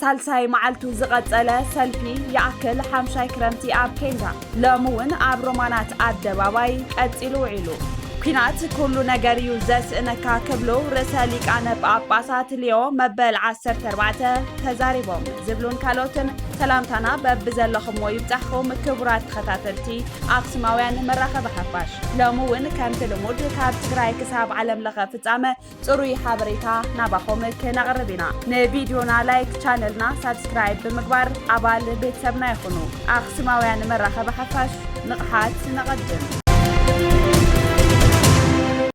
ሳልሳይ መዓልቱ ዝቐጸለ ሰልፊ ይኣክል ሓምሻይ ክረምቲ ኣብ ኬንዳ ሎሚ እውን ኣብ ሮማናት ኣደባባይ ቀጺሉ ውዒሉ። ኲናት ኩሉ ነገር እዩ ዘስእነካ ክብሉ ርእሰ ሊቃነ ጳጳሳት ሊዮ መበል ዓሰርተ ኣርባዕተ ተዛሪቦም ዝብሉን ካልኦትን ሰላምታና በብዘለኹምዎ ይብጻሕኩም ክቡራት ተኸታተልቲ ኣክሱማውያን መራኸቢ ሓፋሽ ሎሚ እውን ከምቲ ልሙድ ካብ ትግራይ ክሳብ ዓለም ለኸ ፍጻመ ፅሩይ ሓበሬታ ናባኹም ክነቕርብ ኢና። ንቪድዮና ላይክ፣ ቻነልና ሳብስክራይብ ብምግባር ኣባል ቤተሰብና ይኹኑ። ኣኽሱማውያን መራኸቢ ሓፋሽ ንቕሓት ነቐድም!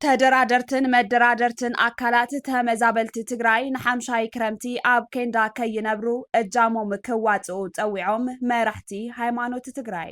ተደራደርትን መደራደርትን ኣካላት ተመዛበልቲ ትግራይ ንሓምሻይ ክረምቲ ኣብ ኬንዳ ከይነብሩ እጃሞም ክዋፅኡ ፀዊዖም መራሕቲ ሃይማኖት ትግራይ።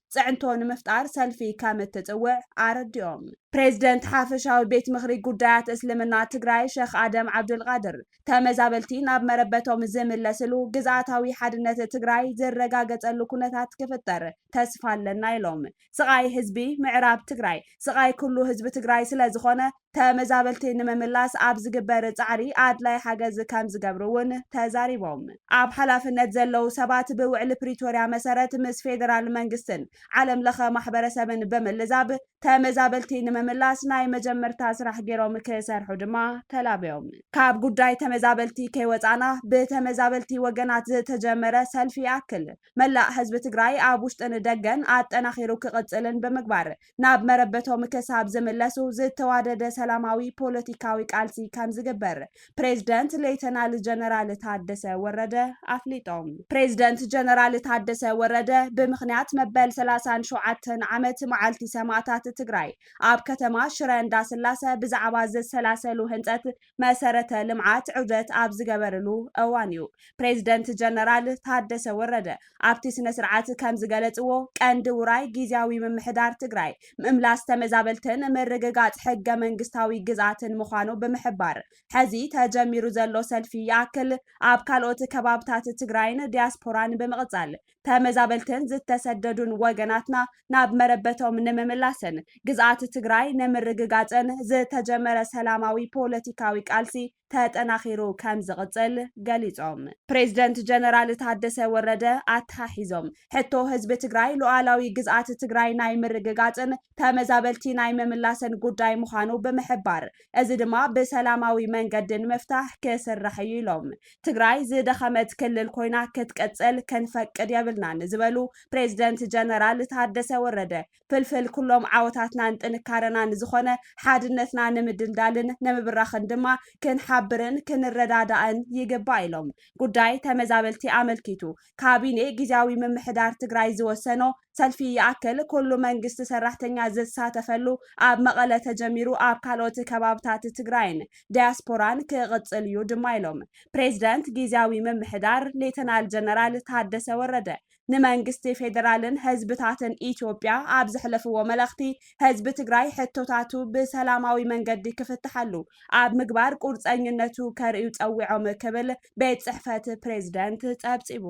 ፅዕንቶ ንምፍጣር ሰልፊ ከምትፅውዕ ኣረዲኦም። ፕሬዝደንት ሓፈሻዊ ቤት ምኽሪ ጉዳያት እስልምና ትግራይ ሸኽ ኣደም ዓብዱልቃድር፣ ተመዛበልቲ ናብ መረበቶም ዝምለስሉ፣ ግዝኣታዊ ሓድነት ትግራይ ዝረጋገፀሉ ኩነታት ክፍጠር ተስፋ ኣለና ኢሎም። ስቓይ ህዝቢ ምዕራብ ትግራይ ስቓይ ኩሉ ህዝቢ ትግራይ ስለዝኾነ ተመዛበልቲ ንምምላስ ኣብ ዝግበር ፃዕሪ ኣድላይ ሓገዝ ከምዝገብሩ እውን ተዛሪቦም። ኣብ ሓላፍነት ዘለዉ ሰባት ብውዕሊ ፕሪቶሪያ መሰረት ምስ ፌዴራል መንግስትን ዓለም ለኸ ማሕበረሰብን ብምልዛብ ተመዛበልቲ ንምምላስ ናይ መጀመርታ ስራሕ ገይሮም ክሰርሑ ድማ ተላብዮም። ካብ ጉዳይ ተመዛበልቲ ከይወፃእና ብተመዛበልቲ ወገናት ዝተጀመረ ሰልፊ ይኣክል፣ መላእ ህዝቢ ትግራይ ኣብ ውሽጥን ደገን ኣጠናኺሩ ክቕፅልን ብምግባር ናብ መረበቶም ክሳብ ዝምለሱ ዝተዋደደ ሰላማዊ ፖለቲካዊ ቃልሲ ከምዝግበር ፕሬዝደንት ሌተናል ጀነራል ታደሰ ወረደ ኣፍሊጦም። ፕሬዝደንት ጀነራል ታደሰ ወረደ ብምኽንያት መበል ሰላሳን ሸውዓተን ዓመት መዓልቲ ሰማእታት ትግራይ ኣብ ከተማ ሽረ እንዳስላሰ ብዛዕባ ዝሰላሰሉ ህንፀት መሰረተ ልምዓት ዑደት ኣብ ዝገበርሉ እዋን እዩ። ፕሬዚደንት ጀነራል ታደሰ ወረደ ኣብቲ ስነ ስርዓት ከምዝገለፅዎ፣ ቀንዲ ውራይ ጊዚያዊ ምምሕዳር ትግራይ ምምላስ ተመዛበልትን ምርግጋፅ ሕገ መንግስታዊ ግዝኣትን ምዃኑ ብምሕባር፣ ሐዚ ተጀሚሩ ዘሎ ሰልፊ ይኣክል ኣብ ካልኦት ከባብታት ትግራይን ዲያስፖራን ብምቕፃል ተመዛበልትን ዝተሰደዱን ወገናትና ናብ መረበቶም ንምምላስን ግዝኣት ትግራይ ንምርግጋፅን ዝተጀመረ ሰላማዊ ፖለቲካዊ ቃልሲ ተጠናኺሩ ከምዝቕፅል ገሊፆም። ፕሬዝደንት ጀነራል ታደሰ ወረደ ኣተሓሒዞም ሕቶ ህዝቢ ትግራይ ሉኣላዊ ግዝኣት ትግራይ ናይ ምርግጋፅን ተመዛበልቲ ናይ ምምላስን ጉዳይ ምዃኑ ብምሕባር እዚ ድማ ብሰላማዊ መንገዲ ንምፍታሕ ክስራሕ እዩ ኢሎም። ትግራይ ዝደኸመት ክልል ኮይና ክትቅፅል ክንፈቅድ የብልናን ንዝበሉ ፕሬዝደንት ጀነራል ታደሰ ወረደ፣ ፍልፍል ኩሎም ዓወታትናን ጥንካረናን ዝኾነ ሓድነትና ንምድልዳልን ንምብራኽን ድማ ክንሓብርን ክንረዳዳእን ይግባእ ኢሎም። ጉዳይ ተመዛበልቲ ኣመልኪቱ ካቢኔ ጊዚያዊ ምምሕዳር ትግራይ ዝወሰኖ ሰልፊ ይኣክል ኩሉ መንግስቲ ሰራሕተኛ ዝሳተፈሉ ኣብ መቐለ ተጀሚሩ ኣብ ካልኦት ከባብታት ትግራይን ዳያስፖራን ክቕፅል እዩ ድማ ኢሎም ፕሬዚደንት ጊዚያዊ ምምሕዳር ሌተናል ጀነራል ታደሰ ወረደ ንመንግስቲ ፌዴራልን ህዝብታትን ኢትዮጵያ ኣብ ዘሕለፍዎ መልእኽቲ ህዝቢ ትግራይ ሕቶታቱ ብሰላማዊ መንገዲ ክፍትሓሉ ኣብ ምግባር ቁርፀኝነቱ ከርእዩ ፀዊዖም ክብል ቤት ፅሕፈት ፕሬዝደንት ፀብፂቡ።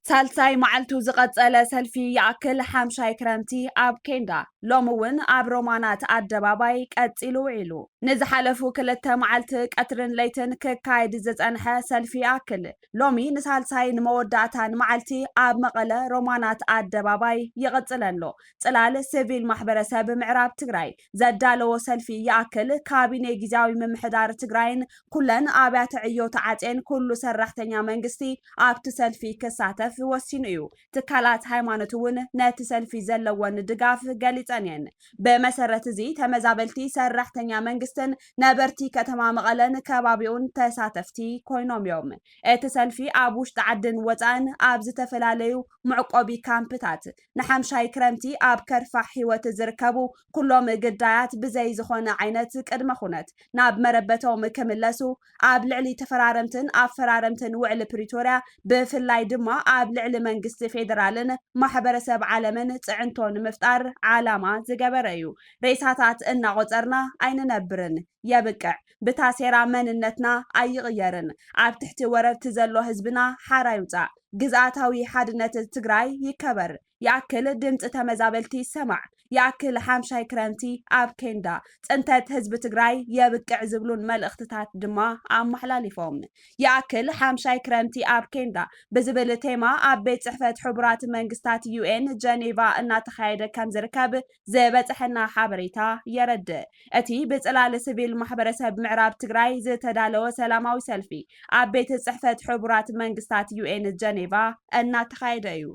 ሳልሳይ መዓልቱ ዝቐፀለ ሰልፊ ይኣክል ሓምሻይ ክረምቲ ኣብ ኬንዳ ሎሚ እውን ኣብ ሮማናት ኣደባባይ ቀፂሉ ውዒሉ። ንዝሓለፉ ክልተ መዓልቲ ቀትርን ለይትን ክካየድ ዝፀንሐ ሰልፊ ይኣክል ሎሚ ንሳልሳይ ንመወዳእታን መዓልቲ ኣብ መቐለ ሮማናት ኣደባባይ ይቕፅል ኣሎ። ፅላል ስቪል ማሕበረሰብ ምዕራብ ትግራይ ዘዳለዎ ሰልፊ ይኣክል ካቢኔ ጊዚያዊ ምምሕዳር ትግራይን ኩለን ኣብያተ ዕዮ ተዓፅየን ኩሉ ሰራሕተኛ መንግስቲ ኣብቲ ሰልፊ ክሳተፍ ወሲኑ እዩ። ትካላት ሃይማኖት እውን ነቲ ሰልፊ ዘለወን ድጋፍ ገሊፀን እየን። ብመሰረት እዚ ተመዛበልቲ፣ ሰራሕተኛ መንግስትን ነበርቲ ከተማ መቐለን ከባቢኡን ተሳተፍቲ ኮይኖም ዮም። እቲ ሰልፊ ኣብ ውሽጢ ዓድን ወፃእን ኣብ ዝተፈላለዩ መዕቆቢ ካምፕታት ንሓምሻይ ክረምቲ ኣብ ከርፋሕ ህይወት ዝርከቡ ኩሎም ግዳያት ብዘይ ዝኾነ ዓይነት ቅድመ ኩነት ናብ መረበቶም ክምለሱ ኣብ ልዕሊ ተፈራረምትን ኣፈራረምትን ውዕሊ ፕሪቶርያ ብፍላይ ድማ ኣብ ልዕሊ መንግስቲ ፌደራልን ማሕበረሰብ ዓለምን ፅዕንቶ ንምፍጣር ዓላማ ዝገበረ እዩ። ሬሳታት እናቖፀርና ኣይንነብርን። የብቅዕ። ብታሴራ መንነትና ኣይቕየርን። ኣብ ትሕቲ ወረርቲ ዘሎ ህዝብና ሓራ ይውፃእ። ግዝኣታዊ ሓድነት ትግራይ ይከበር። ይኣክል ድምፂ ተመዛበልቲ ይሰማዕ፣ ይኣክል ሓምሻይ ክረምቲ ኣብ ኬንዳ፣ ፅንተት ህዝቢ ትግራይ የብቅዕ ዝብሉን መልእኽትታት ድማ ኣመሓላሊፎም። ይኣክል ሓምሻይ ክረምቲ ኣብ ኬንዳ ብዝብል ቴማ ኣብ ቤት ፅሕፈት ሕቡራት መንግስታት፣ UN፣ ጀኔቫ እናተኻየደ ከምዝርከብ ዝበፀሐና ሓበሬታ የረድእ። እቲ ብፅላል ስቪል ማሕበረሰብ ምዕራብ ትግራይ ዝተዳለወ ሰላማዊ ሰልፊ ኣብ ቤት ፅሕፈት ሕቡራት መንግስታት ዩኤን ጀኔቫ እናተኻየደ እዩ።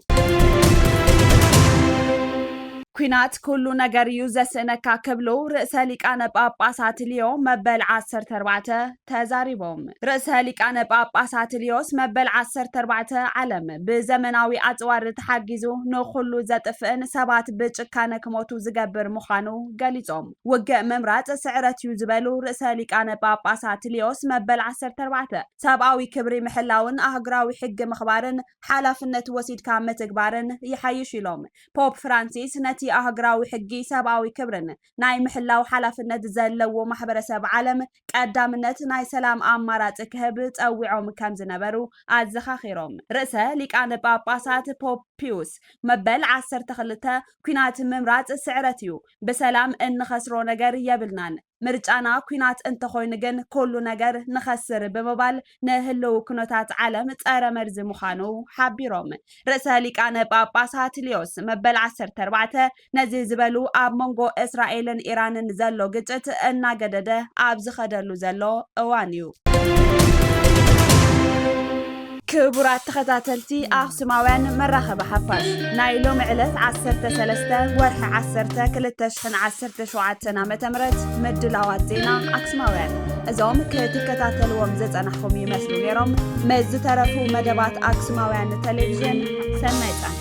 ኲናት ኩሉ ነገር እዩ ዘስእነካ ክብሉ ርእሰ ሊቃነ ጳጳሳት ሊዮ መበል ዓሰርተ ኣርባዕተ ተዛሪቦም። ርእሰ ሊቃነ ጳጳሳት ልዮስ መበል ዓሰርተ ኣርባዕተ ዓለም ብዘመናዊ ኣጽዋር ተሓጊዙ ንዅሉ ዘጥፍእን ሰባት ብጭካነ ክሞቱ ዝገብር ምዃኑ ገሊጾም፣ ውግእ ምምራጽ ስዕረት እዩ ዝበሉ ርእሰ ሊቃነ ጳጳሳት ልዮስ መበል ዓሰርተ ኣርባዕተ፣ ሰብኣዊ ክብሪ ምሕላውን ኣህጉራዊ ሕጊ ምኽባርን ሓላፍነት ወሲድካ ምትግባርን ይሓይሽ ኢሎም። ፖፕ ፍራንሲስ ነቲ ኣህጉራዊ ሕጊ ሰብኣዊ ክብርን ናይ ምሕላው ሓላፍነት ዘለዎ ማሕበረሰብ ዓለም ቀዳምነት ናይ ሰላም ኣማራጺ ክህብ ጸዊዖም ከም ዝነበሩ ኣዘኻኺሮም፣ ርእሰ ሊቃነ ጳጳሳት ፖፕ ፒዩስ መበል ዓሰርተ ክልተ ኲናት ምምራጽ ስዕረት እዩ፣ ብሰላም እንኸስሮ ነገር የብልናን፣ ምርጫና ኲናት እንተኾይኑ ግን ኩሉ ነገር ንኸስር ብምባል ንህልው ኩነታት ዓለም ጸረ መርዚ ምዃኑ ሓቢሮም፣ ርእሰ ሊቃነ ጳጳሳት ሊዮስ መበል ዓሰርተ ኣርባዕተ ነዚ ዝበሉ ኣብ መንጎ እስራኤልን ኢራንን ዘሎ ግጭት እናገደደ ኣብ ዝኸደሉ ዘሎ እዋን እዩ። ክቡራት ተኸታተልቲ ኣኽሱማውያን መራኸቢ ሓፋሽ ናይ ሎሚ ዕለት ዓሰርተ ሰለስተ ወርሒ ዓሰርተ ክልተ ሽሕን ዓሰርተ ሸውዓተን ዓመተ ምህረት ምድላዋት ዜና ኣክሱማውያን እዞም ክትከታተልዎም ዝጸናሕኹም ይመስሉ ነይሮም። ምስ ዝተረፉ መደባት ኣክሱማውያን ቴሌቪዥን ሰናይ ጻንሒ